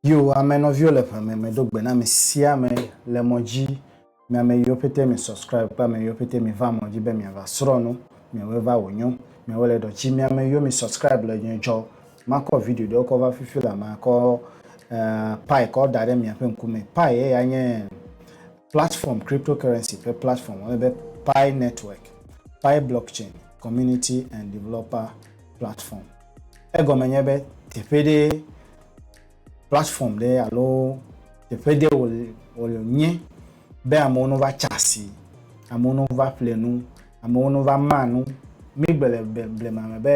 Yo ame nɔviwo le ʋe me medo gbe na ame sia ame le mɔ dzi, mi ame yiwo pɛtɛ mi subscribe kple ame yiwo pɛtɛ mi va mɔ dzi be miava srɔ̃ nu, miawoe va wò nyo, miawoe le ɖɔ tsi. Mi ame yiwo mi subscribe le nye dzɔ makɔ video ɖewo kɔ va fifi la makɔ pi kɔ da ɖe miaƒe ŋku me. Pi ye ya nye platform cryptocurrency ƒe platform wɔnɛ be pi network, pi blockchain community and developer platform. Egɔme nye be teƒe ɖe platform ɖe alo teƒe ɖe wònye be amewo nova tsa asi, amewo nova ƒle nu, amewo nova ma nu. Mígbe le blema me be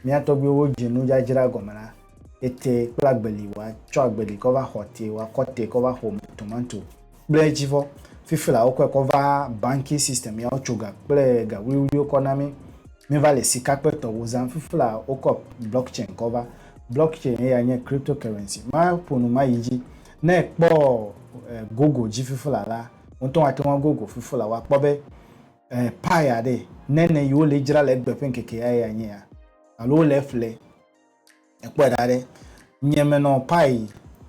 mía tɔgbuiwo dze nudzadzra gɔme la, ete kple agbeli woatsɔ agbeli kɔ va xɔ te, woakɔ te kɔ va ƒo tomato kple dzivɔ. Fifi la wokɔe kɔ va banking system ya wotso ga kple ga wuliwuliwo kɔ na mí. Mí va le sika kple tɔwo zam. Fifi la wokɔ blockchain kɔ va. Blockchain eya nye cryptocurrency. Ma ƒo nu ma yi dzi. Ne ekpɔ eh, Google dzi fifi la la, wotɔ ate ŋu Google fifi la wa kpɔ be eh, pi aɖe nene yi wole dzra le egbe ƒe ŋkeke ya eya nye ya. Alo wole eƒle. Èkpɔe ɖa ɖe, nye menɔ Pai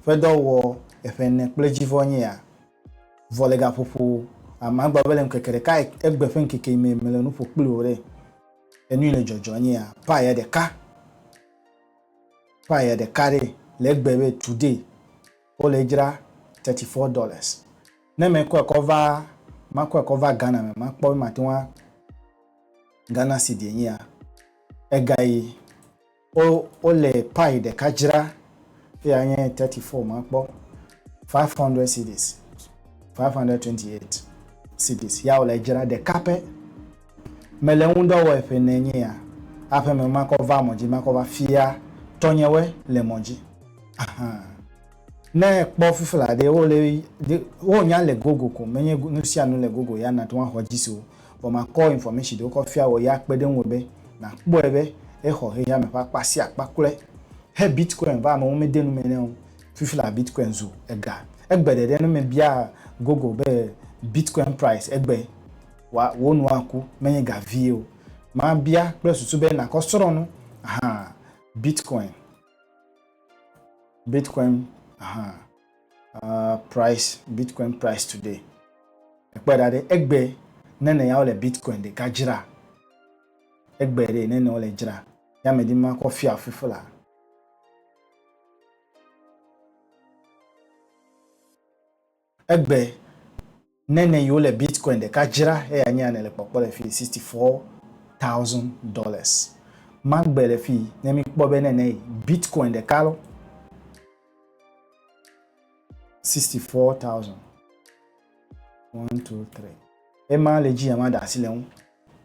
ƒe dɔ wɔ eƒe ene kple dzi vɔ nye ya, vɔ le gaƒoƒo a magblɔ be le ŋkeke ɖeka egbe ƒe ŋkeke yi me mele nu ƒo kpli wò ɖe, enui le dzɔdzɔ nye ya, Pai ya ɖeka, Pai ya ɖeka ɖe le egbe be today wo le edzra thirty four dollars, ne mekɔe kɔ va, makɔe kɔ va Ghana me makpɔ be mate ŋu a Ghana cedi enye ya, ega yi. Wo wole pie ɖeka dzra eye anye thirty four ma kpɔ five hundred cedis five hundred twenty eight cedis ya wole dzra ɖeka pɛ. Mele ŋudɔ wɔe ƒe ne nye ya aƒe me makɔ va mɔ dzi makɔ va fia tɔnyewe le mɔ dzi ahan ne kpɔ fifla ɖe wole ɖe wo nya le Google ko menye nusianu le Google ya nate ŋu axɔ dzi si o. Vɔ makɔ information ɖewo kɔ fia wɔ ye akpe ɖe ŋuwò be nàkpɔe be exɔ xexea me ƒe akpa sia akpa klɔe. He Bitcoin va amewo mede nu me nɛ o. Fifi la Bitcoin zu ega. Egbe ɖeɖe ne mebia Google be Bitcoin price egbe wa wò nu aku menye ga vie o. Mabia kple susu be nàkɔ srɔ̃ nu ahaa Bitcoin Bitcoin ahaa. uh, price bitcoin price today ekpɔe ɖa ɖe egbe nene ya wole bitcoin ɖeka dzra egbe ɖe nene wole dzra ya medi ma kɔ fia fufu la egbe Nene yi wole Bitcoin ɖeka dzra eya nye ane le kpɔkpɔ le fii sixty four thousand dollars. Magbe le fii ne mi kpɔ be nene yi Bitcoin ɖeka lɔ sixty four thousand. One, two, three. Ema le dzi ya ma da asi le ŋu.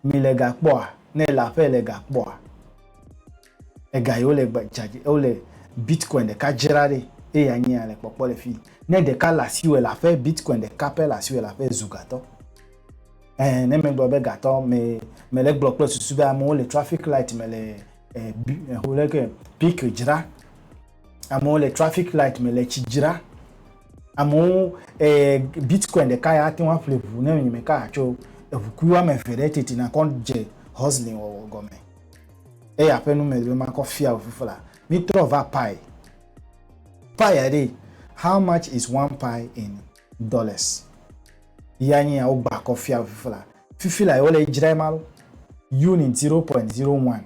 mi le ga kpɔa ne ele aƒe le ga kpɔa ega yi wole gba dzadzi wole bitcoin ɖeka dzra ɖi eye ya nyi ya le kpɔkpɔ le fi ne ɖeka le asi wɔ le aƒe bitcoin ɖeka pɛ le asi wɔ le aƒe ezu gatɔ ɛɛ ne megblɔ be gatɔ me me le gblɔ kple susu be amewo le traffic light me le ɛ bi ɛ ho leke pik dzra Amewo le traffic light me le tsi dzra. Amewo eh, bitcoin ɖeka ya ate ŋu aƒle ʋu ne nye meka atso eʋukui woame eve ɖe teti nakɔ dze hustling wɔwɔ gɔme. Eya ƒe nu mele be makɔ fia o fifla. Mítrɔ va pi. Pi ya ɖe, how much is one pi in dollars? Ya nye ya wogba kɔ fia o fifla. Fifila yi wole yi dzrae ma lo. Unit zero point zero one.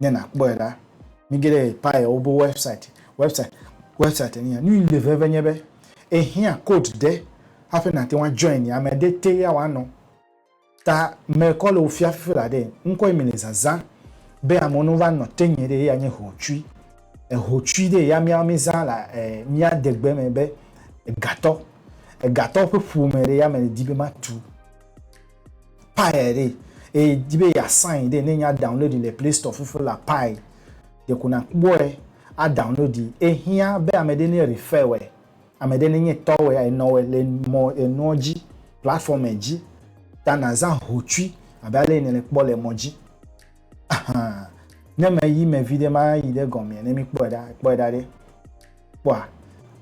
ne nàkpɔe la, mige ɖe Payewo be wɛbsaiti, wɛbsaiti, wɛbsaiti nye ya. Nu yi le veve nye be, ehiã kod ɖe hafi nàte ŋu ajoini, ame ɖe te ya wòanɔ. Ta mekɔ le wò fia fifi la ɖe, ŋkɔ yi mele zazã be amewo ne wova nɔ te nye ɖe eya nye hotsui. Hotsui ɖe ya míawo mízã le mía degbe me be egatɔ. Egatɔ ƒe ƒome ɖe ya medi be matu. Pie ɖe eye di be ya sign ɖe ne nya download le play store fufu la pie ɖe ko na kpɔe a download yi ehiã be ame ɖe ne refer wɛ ame ɖe ne nye tɔ wɛ a enɔ wɛ le mɔ enuɔ dzi platform e dzi ta na zã hotsui abe ale yi ne le kpɔ le mɔ dzi ahan ne me yi me vi ɖe ma yi ɖe gɔmea ne mi kpɔe ɖa kpɔe ɖa ɖe kpɔa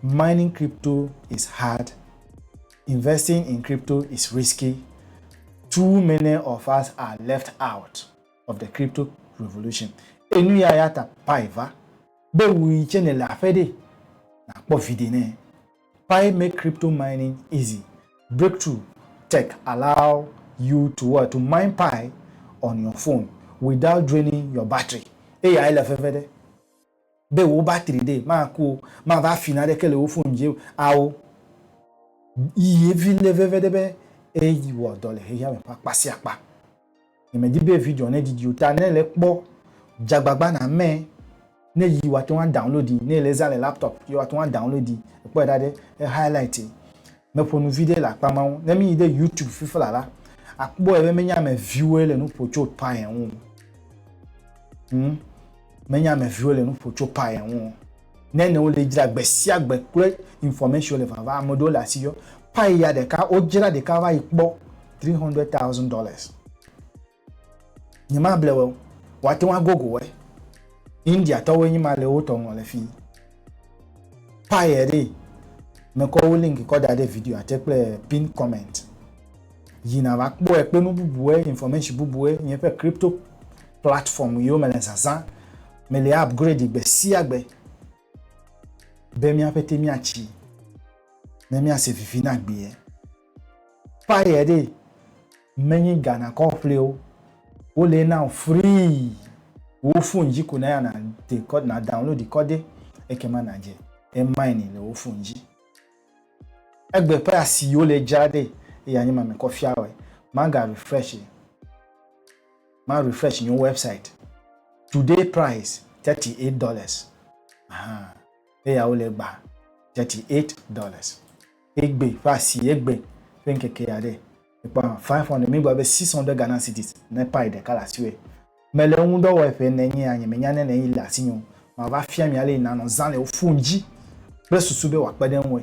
mining crypto is hard Investing in crypto is risky, too many of us are left out of the crypto revolution, enu ya ya ta Pai va be wu yi tsɛ nèle aƒe ɖee, nàkpɔ viɖe nɛ. Pai make crypto mining easy, Breakthrough Tech allow you to what? To mine Pai on your phone without draining your battery. Eyae le veve ɖe. be wò battery ɖee maku o, mava fi naneke le wò phone dzi o ao. Yi ye vi le veve ɖe be eyi wɔ dɔ le xexeame ƒe akpa sia akpa. Nye me di be video ne didi o ta ne le kpɔ dza gbagba na me ne yi wa teŋu a download yi ne le zã le laptop yi wa teŋu a download yi. Ekpɔe ɖa ɖe e highlight yi. Me ƒo nu viɖe le akpa ma ŋu. Ne mi yi ɖe youtube fifi la la akpɔe be menye ame viwoe le nu ƒo tso tɔa ŋu o. Hum. Menye ame viwo le nuƒo tso paya ŋu o. Ne ne wole dzra gbe sia gbe kple information le vava ame ɖewo le asi yɔ paya ɖeka wo dzra ɖeka va yi kpɔ three hundred thousand dollars. Nye ma ble wɔ o. Woa te ŋu agogo wɔe. India tɔwoe nyi ma le wo tɔ ŋlɔ le fii. pie ɖi mekɔ wo link kɔ da ɖe video ate kple pin comment yi na va kpɔe kple nu bubue information bubue nye ƒe crypto platform yiwo mele zazã mele upgrade gbe sia gbe be míaƒe te míatsi ne míase vivi na gbee Fire ɖe menyi Ghana kɔƒlewo wo le na free wo phone dzi ko na ya na de na download kɔ de eke ma na dze e mine le wo phone dzi egbe ƒe asi wo le dza de eya nye ma me kɔ fia wɔ ma ga refresh ma refresh nye website today price 38 dollars aha eya wo le gba 38 dollars egbe ƒe asi egbe ƒe ŋkeke aɖe. Ekpɔ five hundred míegblɔ be six hundred Ghana cedis ne payi ɖeka le asiwòe. Mele eŋu ŋdɔ wɔe ƒe ene nyea nyemenya ne ne yi le asinye o. Mava fia mi ale yi nanɔ zã le wò fon dzi kple susu be wòakpe ɖe eŋue.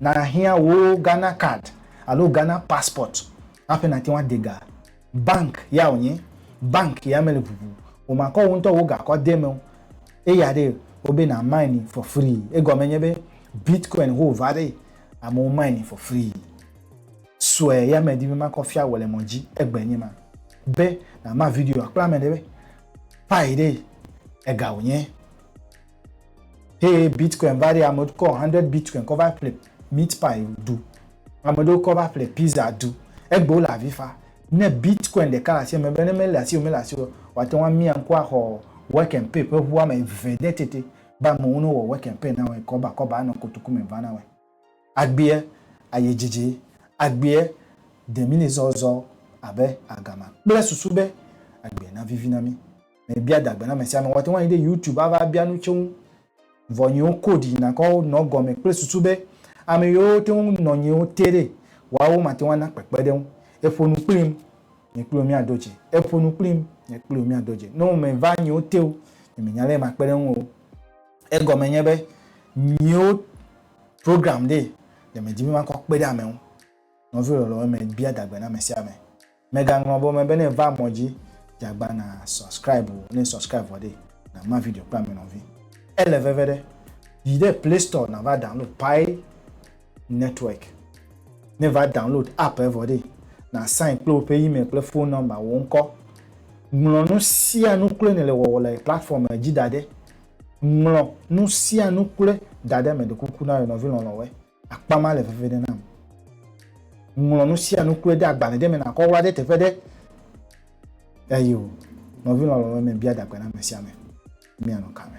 Nàhiã wò Ghana card alo Ghana passport hafi nàte ŋu ade ga Bank ya wònye, bank ya mele ʋuʋu o, makɔ wò ŋutɔ wò gakɔ de eme o. Eya ɖe wobe na mine for free. Egɔme nye be Bitcoin ho va ɖe amewo mine for free. Sue ya medi be makɔ fia wò le mɔ dzi egbe nye ma be nama videoa kple ame ɖe be pi ɖe ega wònye. Hey, Bitcoin va ɖi ame kɔ 100 Bitcoin kɔ va ƒle meat pie ɖu. Ame ɖewo kɔ va ƒle pizza ɖu. Egbewo le avi fa. Ne Bitcoin ɖeka le asi ame be ne mele asi o mele asi o wòate ŋu amia ŋku axɔ work and pay ƒe ŋu ame eve ɖe tete be amewo ne wɔ work and pay na wɔe kɔba kɔba anɔ kotoku me va na wɔe. Agbea ayi dzidzi. Agbea de mí zɔzɔ abe agama kple susu be agbea navivi na mí. mebia da gbe na ame sia ame. Woate ŋu ayi ɖe YouTube ava bia nu tso ŋu. Vɔ nyiwo code yina kɔ nɔ gɔme kple susu be ame yiwo te ŋu nɔ nyiwo te ɖe, woawo mate ŋu ana kpekpeɖeŋu. Eƒo nu kplim, nye kpli wò míado dze. Eƒo nu kplim, nye kpli wò míado dze. Ne womeva nyiwo te o, nye menya lé makpe ɖe ŋuwò o. Egɔme nye be nyiwo programmed ɖe medi be makɔ kpe ɖe ame ŋu. Nɔviwò lɔlɔ̃wo, mebia da gbe na ame sia ame. Mègaŋlɔ be wome be ne va mɔ dzi dze agba na subscribe o, ne subscribe vɔ ɖe na ma video kple ame nɔvi. Ele veve ɖe, yi ɖe play store na va download Pi network. Ne va download app vɔ ɖe na sign kple woƒe email kple phone number wò ŋkɔ. Ŋlɔ nu sia nu kloe ne le wɔwɔ le platform dzi da ɖe. Ŋlɔ nu sia nu kloe da ɖe me ɖe kuku na yɔ nɔvi lɔlɔ̃ wɔ. Akpa ma le veve ɖe nam. Ŋlɔ nu sia nu kple ɖe agbalẽ ɖe me na kɔwla ɖe teƒe ɖe. Eyo, nɔvi lɔlɔ̃ me bia dagbe na ame sia ame. Mianɔ ka me?